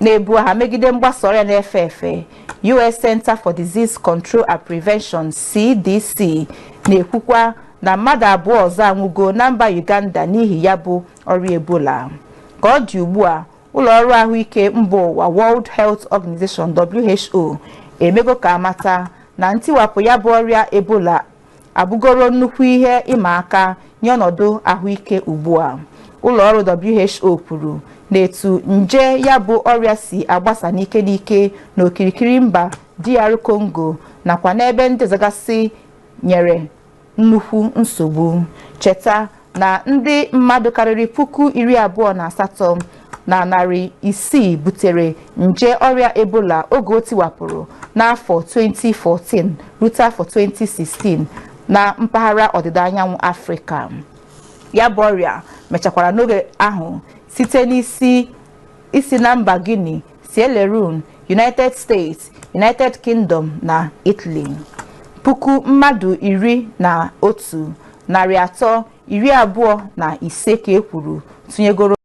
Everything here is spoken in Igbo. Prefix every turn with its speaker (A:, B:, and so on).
A: na-ebu agha megide mgbasa ọrịa na-efe efe US Center for Disease Control and Prevention CDC na-ekwukwa na mmadụ abụọ ọzọ anwụgo na mba Uganda n'ihi ya bụ ọrịa Ebola ka ọ dị ugbu a ụlọ ọrụ ahụike mba ụwa World Health Organization WHO emego ka a mata na ntiwapụ ya bụ ọrịa Ebola abụgoro nnukwu ihe ịma aka nye ọnọdụ ahụike ugbu a ụlọọrụ WHO kwuru na etu nje ya bụ ọrịa si agbasa n'ike n'ike n'okirikiri mba DR Congo nakwa n'ebe ndị ọzọgasị nyere nnukwu nsogbu cheta na ndị mmadụ karịrị puku iri abụọ na asatọ na narị isii butere nje ọrịa ebola oge o tiwapụrụ n'afọ 2014 rute afọ 2016 na mpaghara ọdịda anyanwụ afrịka ya bụ ọrịa mechakwara n'oge ahụ site n'isi na mba guinea Sierra Leone, United States, United Kingdom na Italy. Puku mmadụ iri na otu, narị atọ, iri abụọ na ise ka e kwuru tụnyegoro